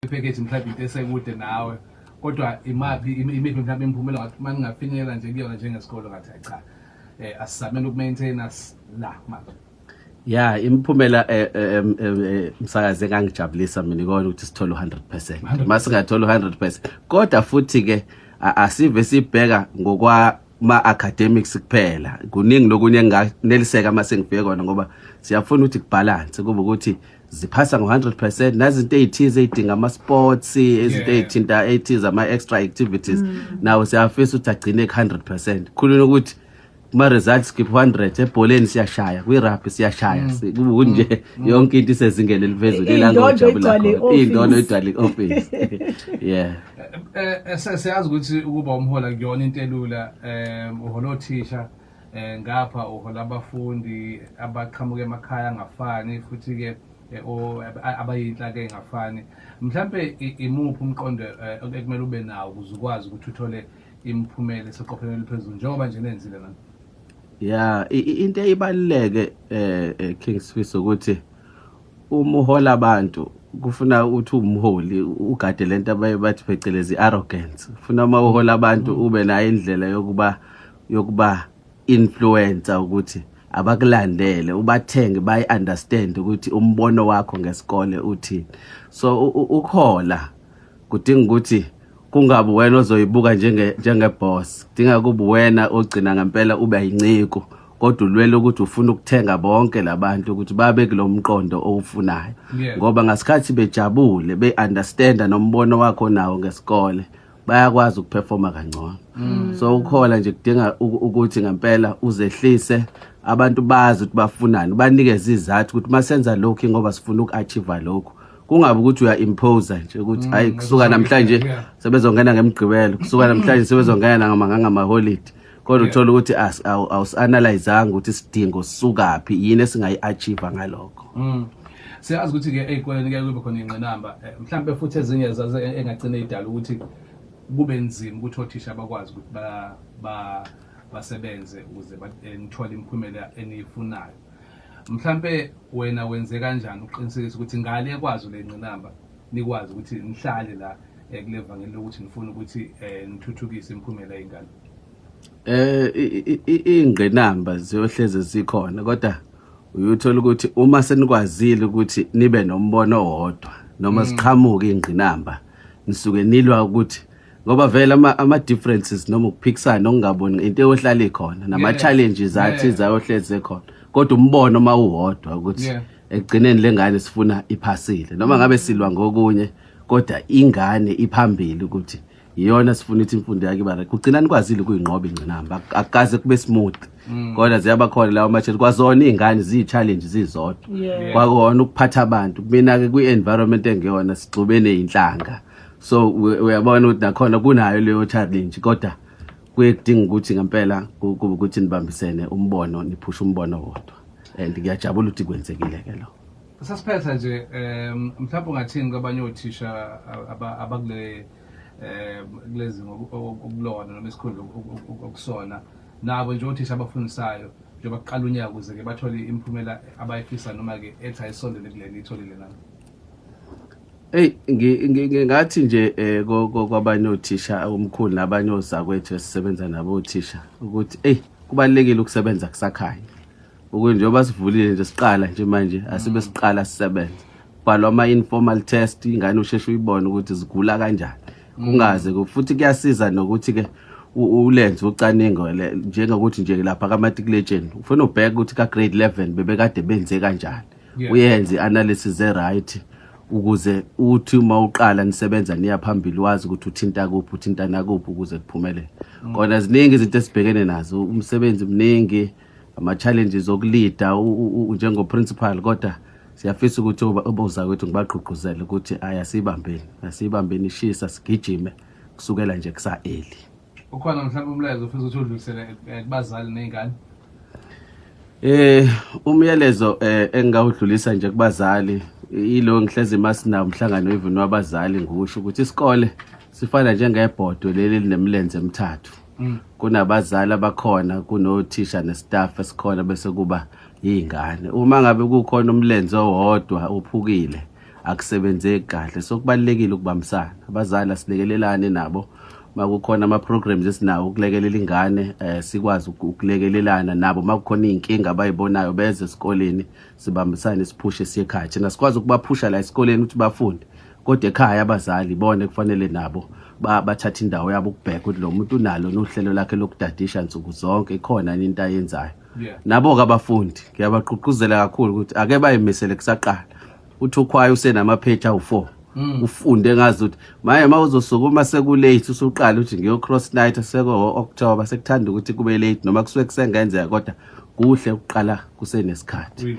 ipackage mhlawumbe into esekude nawe kodwa imaphi imiphi mhlawumbe imiphumela ngathi uma ningafinyelela nje kuyona njengesikole ngathi hayi cha eh asisamele ukumaintaina la manje ya imiphumela eh, eh, eh, msakaze engangijabulisa mina ikona ukuthi sithole u-100 uma singatholi u-100 kodwa futhi-ke asive sibheka ngokwa ma-academics kuphela kuningi lokunye enganeliseka uma sengibheke kona ngoba siyafuna ukuthi kubhalanse kube ukuthi ziphasa ngo-100 percent nazinto ey'thize ey'dinga ama-sports izinto ey'thinta ey'thize ama-extra activities mm. nawo siyafisa ukuthi agcine ku-100 percent khuluna ukuthi kuma-results skip 100 ebholeni siyashaya kwirabhi siyashaya mm. kunje mm. yonke into isezingeni eliphezulu ilangojabulakhona'indono igcwale i-office yeah eh, eh, siyazi ukuthi ukuba umhola kuyona into elula um uhola othisha Eh, ngapha uhola abafundi abaqhamuka emakhaya angafani futhi-ke eh, abayinhlaka engafani mhlampe imuphi umqondo eh, ekumele ube nawo ukuze ukwazi ukuthi uthole imiphumela eseqophelweni eliphezulu njengoba nje nenzile nami ya into eyibaluleke um king sfiso ukuthi uma uhola abantu kufuna ukuthi umholi ugade le nto abaye bathi phecelezi i-arrogance funa uma uhola abantu ube nayo indlela yokuba yokuba influencer ukuthi abakulandele ubathenge bayi understand ukuthi umbono wakho ngesikole uthini so ukhola kudinga ukuthi kungabi wena ozoyibuka njenge njenge boss dinga kubi wena ogcina ngempela ube yinciko kodwa ulwele ukuthi ufuna ukuthenga bonke labantu ukuthi babe kulomqondo owufunayo ngoba ngasikhathi bejabule be understand nombono wakho nawo ngesikole bayakwazi ukuperforma kangcono mm. so ukhola nje kudinga ukuthi ngempela uzehlise abantu bazi ukuthi bafunani banikeze izathu ukuthi masenza lokhu ngoba sifuna uku-achieve lokhu kungabe ukuthi uya-impose nje ukuthi hayi mm, kusuka namhlanje sebezongena ngemgqibelo kusuka namhlanje sebezongena ngamaholiday kodwa yeah. uthola ukuthi awusi-analyzanga ukuthi isidingo sisukaphi yini esingayi-achieve ngalokho mm. siyazi ukuthi-ke ey'koleni kuye kube khona iy'ngqinamba eh, mhlawumbe futhi ezinye zaze e-, engagcine idala ukuthi kube nzima ukuthi othisha bakwazi ukuthi basebenze ukuze eh, nithole imiphumela eniyifunayo mhlawumbe wena wenze kanjani ukuqinisekisa ukuthi ngale ekwazi le ngqinamba nikwazi ukuthi nihlale la eh, kule vangeli lokuthi nifuna ukuthi eh, nithuthukise imiphumela yengane eh ingqinamba ziyohleze zikhona kodwa uyuthola ukuthi uma senikwazile ukuthi nibe nombono owodwa noma mm. siqhamuke ingqinamba nisuke nilwa ukuthi ngoba vele ama ama differences noma ukuphikisana okungaboni into eyohlala ikhona nama challenges athi zayohleze khona kodwa umbono mawuhodwa ukuthi ekugcineni lengane sifuna iphasile noma ngabe silwa ngokunye kodwa ingane iphambili ukuthi iyona sifuna ukuthi imfundo yakhe iba right kugcina nikwazile ukuyinqoba ingcinamba akukaze kube smooth mm. kodwa ziyaba khona lawo matshela kwazona iy'ngane ziyi-challenge zizodwa kwakona ukuphatha abantu kumina-ke kwi-environment engeyona sigxubene yinhlanga so uyabona ukuthi nakhona kunayo leyo challenge kodwa kuye kudinga ukuthi ngempela kube ukuthi nibambisene umbono niphushe umbono wodwa and ngiyajabula ukuthi kwenzekile ke lo sasiphetha nje um mhlawumbe ungathini kwabanye othisha abakule um kulezi okulona noma isikhundla okusona nabo nje othisha abafundisayo njengoba kuqala unyaka ukuze-ke bathole imiphumela abayifisa noma-ke ethi ayisondele kuleni itholile nabo Hey ngingathi nje eh, kwabanye othisha umkhulu nabanye ozakwethu esisebenza nabo othisha ukuthi hey kubalekile ukusebenza kusakhaya ukuthi njengoba sivulile nje siqala nje manje asibe siqala sisebenza bhalwa ama informal test ingane usheshe uyibone ukuthi zigula kanjani kungaze futhi kuyasiza nokuthi ke ulenze ucaningo njengokuthi nje lapha kaMatriculation ufuna ubheke ukuthi ka grade 11 bebekade benze kanjani uyenze i-analysis e-right ukuze uthi uma uqala nisebenza niya phambili wazi ukuthi uthinta kuphi uthinta nakuphi ukuze kuphumelele mm. kona ziningi izinto esibhekene nazo umsebenzi mningi ama-challenges okulida njengoprincipal kodwa siyafisa ukuthi oboza kwethu ngibagqugquzele ukuthi ayasiyibambeni asiyibambeni ishisa sigijime kusukela nje kusa-eli ukhona mhlawumbe umlayezo ofisa ukuthi udlulisele eh, kubazali nezingane eh umyalezo eh, engingawudlulisa nje kubazali ilo ngihlezi masina umhlangano even wabazali ngiwusho ukuthi isikole sifana njengebhodwe leli linemlenze emithathu mm. kunabazali abakhona kunothisha nestaff esikhona bese kuba yingane uma ngabe kukhona umlenze owodwa uphukile akusebenzeki kahle so kubalekile ukubambisana abazali asilekelelane nabo makukhona ama-programs esinawo ukulekelela ingane um sikwazi ukulekelelana nabo makukhona iy'nkinga abayibonayo beze esikoleni sibambisane siphushe siye ekhaya thina sikwazi ukubaphusha la esikoleni ukuthi bafunde kodwa ekhaya abazali bona kufanele nabo bathathe indawo yabo ukubheka ukuthi lo muntu unalo nohlelo lakhe lokudadisha nsuku zonke ikhona yini into ayenzayo nabo-ke abafundi ngiyabagqugquzela kakhulu ukuthi ake bayimisele kusaqala uthi ukhwayo usenamapheji awu-four Mm. ufunde ngazi ukuthi maye uma uzosukuma sekulate usuqala ukuthi ngiyo-cross night seko-october sekuthanda ukuthi kube late noma kusuke kusengenzeka kodwa kuhle ukuqala kusenesikhathi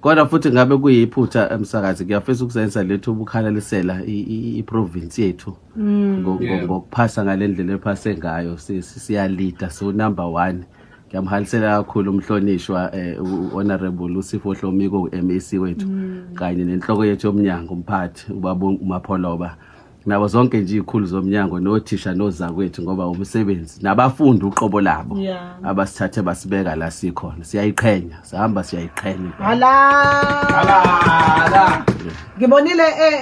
kodwa futhi ngabe kuyiphutha emsakazi ngiyafisa ukusebenzisa lethu ubukhalalisela iprovinsi yethu mm. ngokuphasa ngale ndlela ephase ngayo siyalida siwunumber one ngiyamhalisela kakhulu umhlonishwa eh, honorable usifo hlomiko u-mec wethu mm. kanye nenhloko yethu yomnyango umphathi ubaba umapholoba nabo zonke nje izikhulu zomnyango nothisha nozakwethu ngoba umsebenzi nabafundi uqobo labo yeah. abasithathe basibeka la sikhona siyayiqhenya sihamba siyayiqhenya hala hala ngibonile eh, eh.